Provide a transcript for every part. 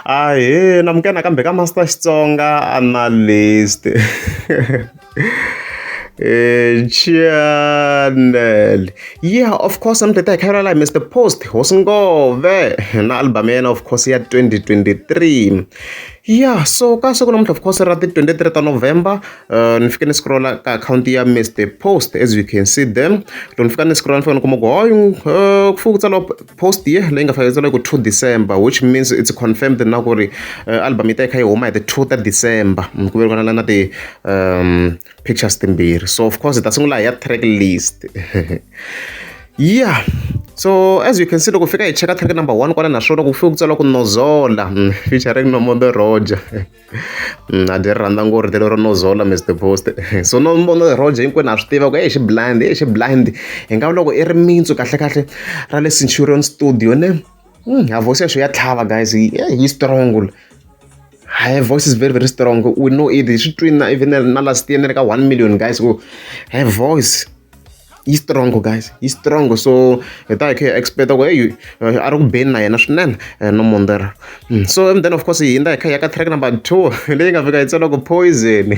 Ahee na muka nakambe ka Master Xitsonga Analyst channel yeah of course I'm the hi kha la Mr Post hosi ngove na album ya yena of course ya 2023 yeah so ka siku namuntlha of course ra ti 23 ta november uh, ni fike ni scrolla ka akhawunti ya Mr Post as you can see them loko ni fika ni scrolla ni fika ni kuma ku hoyi uh, ku fuku tsala post ye leyi nga fanekele ku two december which means it's confirmed na ku ri uh, album yi ta yi kha yi huma hi the two ta december mm, ku velikana na na ti um pictures timbirhi so of course hi ta sungula hi ya track list yeah so as you can see loko fika hi cheka track number one kwala naswona ku fike ku tsala ku nozola mm, featuring nomodo roger na dyi ri rhandza ngori telo ro no zola mis the post so no no roger hinkwenu ha swi tiva ku e xi blind e xi blind hi nga loko i ri mintsu kahlekahle ra le centurion studio ne hmm, ha voice ya swi ya tlhava guys yi eh, strong Her voice is very, very strong. We know it. She twin even na last year, like one million guys. Her voice. yi strong guys yi strong so hi ta hi kha hi expect ku hey eh, a ri ku beni na yena swinene eh, no mondera hmm, so and then of course hi hindza hi kha hi ya ka track number two leyi nga fika hi tsela ku poison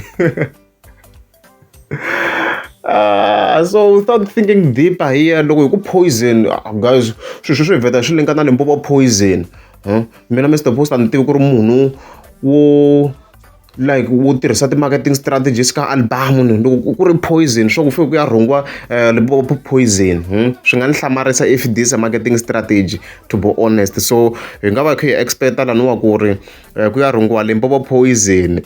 Uh, so without thinking deeper here loko hi ku poison ah, guys swilo sweswi hi vheta swi linkana limpopo poison huh? mina mr post a ni tivi ku ri munhu wo like u tirhisa ti-marketing strategies ka album ni loko ku ri poison swa ku fike ku ya rhungiwa um poison swi nga ni hlamarisa if this a marketing strategy to be honest so hi nga va hi kha hi expect-a laniwa ku ri um ku ya rhungiwa limpopo poison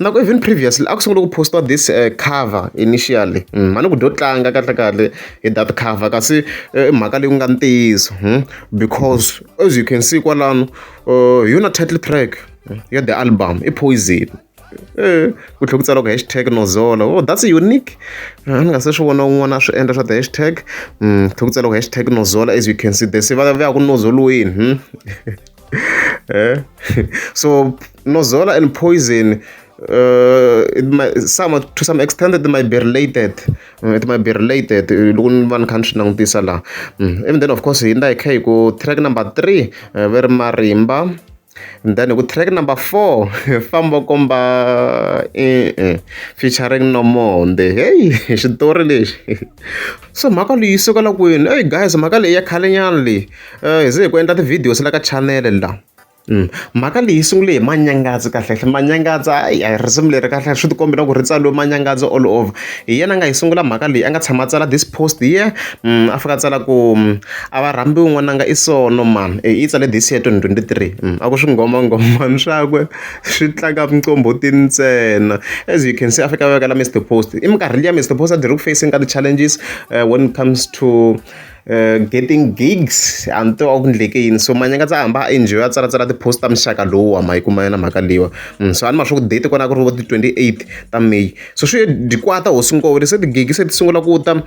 na ku even previously a ku sungula ku postiwa this um cover initially ma ni ku dyo tlanga kahlekahle hi that cover kasi i mhaka leyi ku nga ntiyiso because as you can see kwalano hi yona title track ya the album i poison Eh, ku tlhela ku tsariwa ku hashtag nozolo oh that's unique ah, ni nga se swi vona un'wana a swi endla swa the hashtag mm, tlhela ku tsariwa ku hashtag nozolo as you can see the se va ya ku nozolweni hmm? eh? so nozola and poison uh, it might, some to some extent it might be related mm, it might be related eh, loko ni va ni kha ni swi langutisa laha mm, even then of course hi nda hi kha hi ku track number three uh, ve ri marimba And then ku track number four famba u komba e-e featuring Nomonde heyi xitori lexi so mhaka leyi yi sukela kwini eyi guys mhaka leyi ya khalenyana leyi um hi ze hi ku endla ti-videos la ka chanele la mhaka leyi sungule hi manyangazi kahlekahle manyangazi ayi a hi risimu leri kahle swi ti kombela ku ri tsaliwe manyangazi all over. hi yena a nga yi sungula mhaka leyi a nga tshama a tsala this post here a fika a tsala ku a va rhambiwi n'wananga i sono mani i yi tsale this year twenty twenty three a ku swingomangomani swakwe swi tlanga minqombhoti ntsena as you can see a fika a vekela Mister Post i minkarhi liya Mister Post a dzi ri ku facing ka ti-challenges when it comes to getting gigs a ni tiva a ku endleke yini so manyaka ndza hamba a enjoy a tsalatsala ti-post ta muxaka lowu wa ma yi kuma yona mhaka leyiwa so a ni ma swa ku date kona ku ri vo ti-twenty eight ta may so swi dikwata hosi nkowele se ti-gig se ti sungula ku ta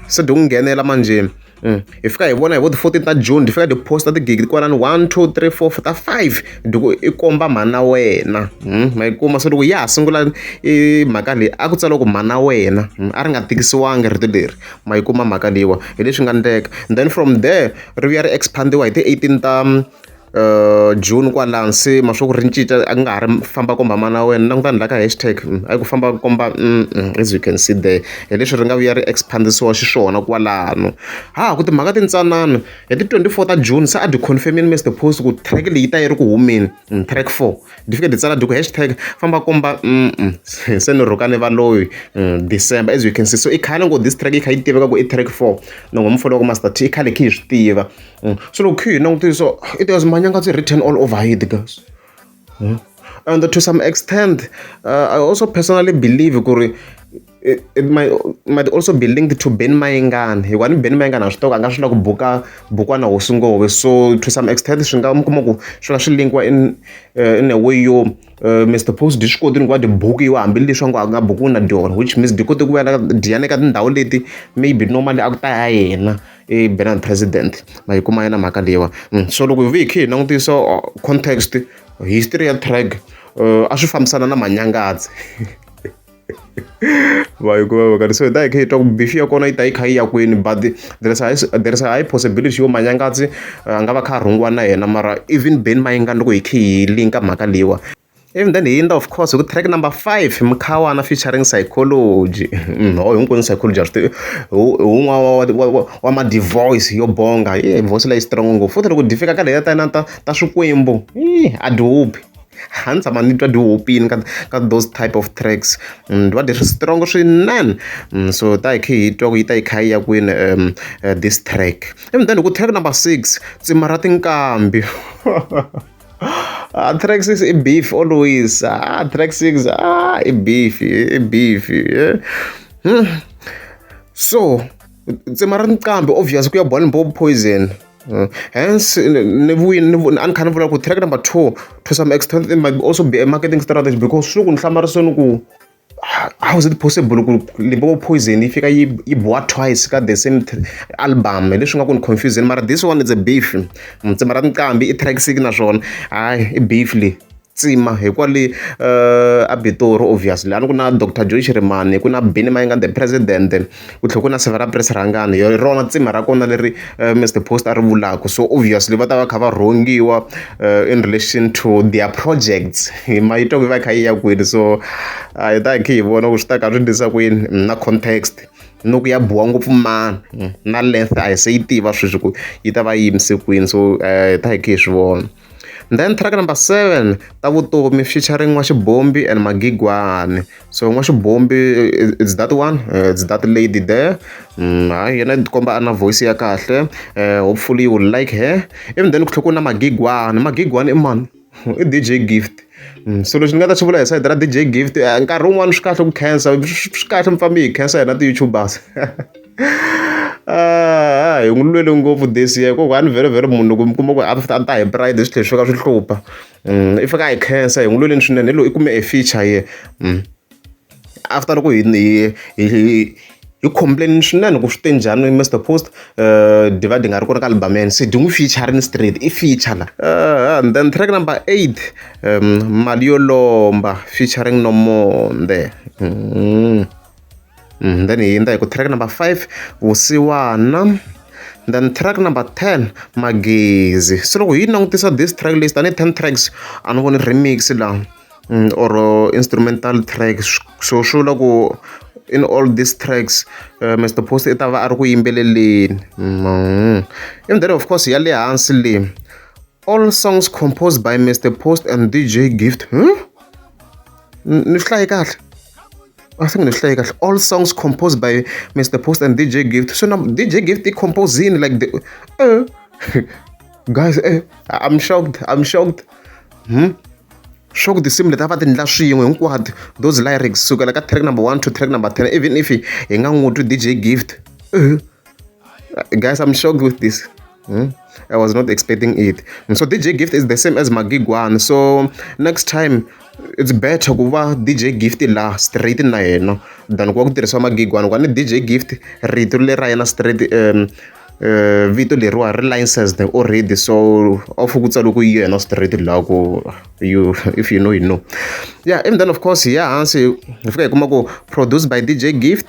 se dyi ku nghenela manjheni Mm. hi fika hi vona hi vo ti-fourteen ta june hi fika hi posta tigigi kwalani one two three four ta five diku i komba mhana wena mm. ma yi kuma se loko ya ha sungula i mhaka leyi a ku tsala ku mhana wena mm. a ri nga tikisiwangi rito leri ma yi kuma mhaka leyiwa hi leswi nga endleka then from there ri vuya ri expand-iwa hi ti-eighteen ta June kwalano se ma swa ku ri cinca a ku nga ha ri famba komba mana wena languta ni la ka hashtag a yi ku famba komba as you can see there hi leswi ri nga vuya ri expand-isiwa xiswona kwalano ha ha ku timhaka ti ntsanana hi ti twenty four ta June se a byi confirm-ini Mister Post ku track leyi yi ta yi ri ku humeni track four. Difike ditsala diku hashtag famba komba se ni rhukane valoyi December as you can see so i khale ngo this track yi kha yi tiveka ku i track four no ngo mufana wa ku Master T i khale khe hi swi tiva so loko khe hi langutile so i tiva manyanga byi written all over hi the girls and to some extent I also personally believe ku ri. it, it might, might also be linked to ben mayengani hikuva ni ben mayengani a swi toka a nga swi lava ku buka bukwana hosi ngove so to some extent swi nga mi kuma ku swi nga swi linkiwa in uh, in a way yo uh, eh, mr post di swi koti ni ku va di bukiwa hambileswi a ngo a nga bukiwi na dyona which means di koti ku vela diyana eka tindhawu leti maybe normally a ku ta ya yena i benan president ma yi kuma yena mhaka leyiwa mm, so loko hi vuye hi khe hi langutisa uh, context history ya track uh, a swi fambisana na manyangadzi va yi kuma vekani so hi ta hi kha hi twa ku bifi ya kona yi ta yi kha yi ya kwini but there is a high, there is a high possibility yo manyangatsi a nga va kha a rhungiwa na yena mara even beni mayingani loko hi kha hi linka mhaka leyiwa even then hi yindla of course hi ku track number five mukhawana featuring psychology ho hinkwenu psychology a swi tivi un'wana wa madivoice yo bonga ye voice leyi strong ngopfu futhi loko dyi fika ka leya ta na ta ta swikwembu a dyi huphi A ndzi tshama ndzi twa dyi hupile ka ka those type of tracks. Ni twa ti ri strong swinene. So hi ta hi kha hi twa ku yi ta yi kha yi ya kwini this track. Ivi then hi ku track number six, Tsima ra tinkambi. A track six i beef always, a track six a i beef i beef. So Tsima ra tinqambi obvious ku ya Bourne Poison. Hence ni vuyi ni a ni kha ni vula ku track number two to some extent it might also be a marketing strategy because swi loko ni hlamala so ni ku how is it possible ku Limpopo Poison yi fika yi yi biwa twice ka the same album hi leswi nga ku ni confuse-zeni mara this one is a beef mara Nqambi i track six naswona hayi i beef leyi. tsima hi kwale a Pitori obviously a ni ku na doctor Joy Shirimani ku na Benny Mayengani the president ku tlhela ku na Severa Prince Rhangani hi rona tsima ra kona leri Mister Post a ri vulaka so obviously va ta va kha va rhongiwa in relation to their projects hi ma yi twa ku yi va yi kha yi ya kwini so a hi ta hi kha hi vona ku swi ta ka swi endlisa ku yini na context ni ku ya biwa ngopfu mani na length a hi se yi tiva sweswi ku yi ta va yi yimise kwini so hi ta hi kha hi swi vona. then track number seven ta vutomi featuring n'waxibombi and magigwani so n'waxibombi it's that one eh, it's that lady there mm, hayi yena tikomba a na voice ya kahle eh, hopefully you will like her even then ku tlhe ku na magigwani magigwani i mani i dj gift mm, so lexi ni nga ta xi vula hi side ra dj gift eh, nkarhi wun'wani swi kahle ku khensa swi kahle mi fambi hi khensa hina ti-youtubers a hi n'wi lwele ngopfu this year ku one very very munhu loko mi kuma ku a a ta hi pride swi tlhe swi ka swi hlupha i fika a hi khensa hi n'wi lweleni swinene hi lo i kume e feature ye after loko hi hi hi hi complain swinene ku swi te njhani Mister Post Divide hi nga ri kona ka album-eni se dyi n'wi feature-rini straight i feature la and then track number eight mali yo lomba featuring Nomonde. Mm, then hi hindza hi ku track number five vusiwana then track number 10 magezi se loko hi langutisa this track list tanihi 10 tracks a ni voni remix la mm, or uh, instrumental tracks so swi vula ku in all these tracks uh, mr post i ta va a ri ku yimbeleleni mm. and then of course ya le hansi leyi All songs composed by Mr Post and DJ Gift. Hmm? Ni swi hlaye kahle? I think ni swi hlaye kahle. All songs composed by Mr Post and DJ Gift. So now DJ Gift i composing like the uh, guys eh, I'm shocked. I'm shocked. Hmm? swa ku tinsimu leti a va ti endla swin'we hinkwato those lyrics sukela ka track number one to track number ten even if hi nga n'wi twi dj gift uh -huh. Uh, guys, I'm shocked with this. Hmm? I was not expecting it. So DJ Gift is the same as Magigwan. So next time it's better ku va dj gift la straight na yena than ku va ku tirhisiwa magigwana kwani dj gift rito leri ra yena straight um uh, vito leriwa ri licensed already so off ku tsalo ku yena straight la ku you if you know you know yeah and then of course ya hansi hi fika hi kuma ku produced by dj gift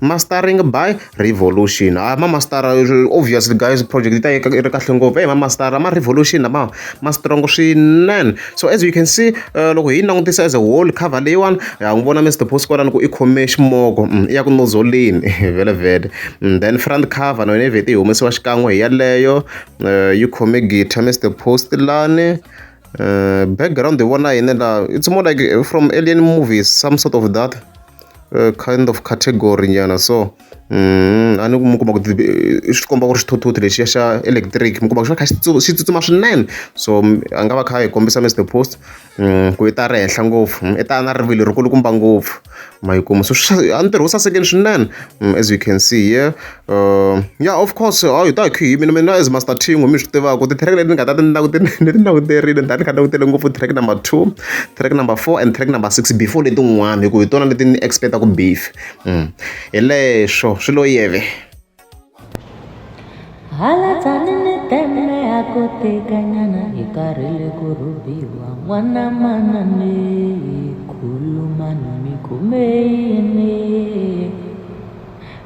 Mastering by Revolution. Hayi ma mastara obviously guys project yi ta yi ri kahle ngopfu. Eyi ma mastara ma Revolution lama ma strong swinene. So as you can see loko hi yi langutisa as a whole cover leyiwani, ha n'wi vona Mister Boss kwalano ku i khome ximoko i ya ku nozzle-eni vhelavhele. Then front cover na yona yi vhete yi humesiwa xikan'we hi yeleyo, yi khome guitar Mister Boss lani. Background hi vona yini laha, it's more like from Alien movies some sort of that. kind of category nyana so a ni ku mi kuma ku i swi komba ku ri xithuthuthu lexiya xa electric mi kuma ku xi va kha xi xi tsutsuma swinene so a nga va kha a hi kombisa Mister Post ku i ta ri henhla ngopfu i ta na rivilo ri kulukumba ngopfu ma yi kuma so a ntirho wu sasekile swinene as you can see here. Ya of course hayi hi ta hi kha hi yimile mina as Master Thinghu mi swi tivaka ti-track leti ni nga ta ti ni ti languterile ni ta ni kha ni langutele ngopfu track number two, track number four and track number six before letin'wana hi ku hi tona leti ni expect-aka beef hi leswo swi lo yeve.